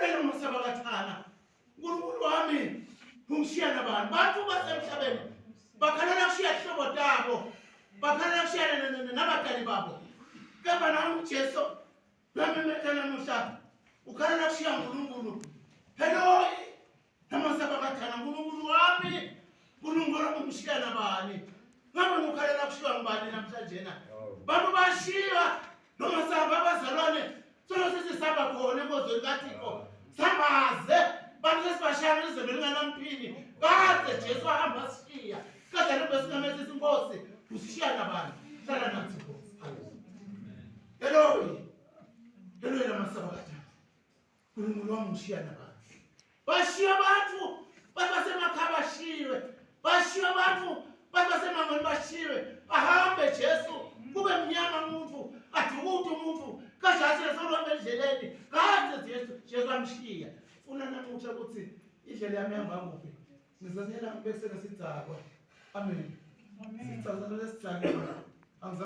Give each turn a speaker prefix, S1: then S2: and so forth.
S1: Yena umusaba kathana. Nkulunkulu wami ungishiya nabani? Bantu basemhlabeni bakhalela kushiya ihlobo tabo. Bakhalela kushiyana nabadali babo. Kepha nami uJesu nami methana muhla ukhalela kushiya uNkulunkulu. Hello namasaba kathana nkulunkulu wami nkulunkulu wami umshiya nabani ngabe ngukhalela kushiywa ngubani namhlanjena bantu bashiya nomasaba abazalwane solo sesisaba khona enkozweni kathixo sambaze bantu sesibashaya nizembe linganamphini kade jesu ahamba sishiya kade nto besingamesisa inkosi usishiya nabani hlala nathi nkosi heloyi heloyi namasaba kathana unkulunkulu wami ngishiya nabandla bashiya abantu bathi basemakhaya bashiywe bashiya abantu bathi basemangweni bashiywe ahambe jesu kube mnyama umuntu adukude umuntu kajasile soluhamba endleleni kaze jesu jesu amshiya funa namutsha ukuthi indlela yami ihamba kuphi ngizanyela ngibesenesidakwa amen sicazanele sidakwa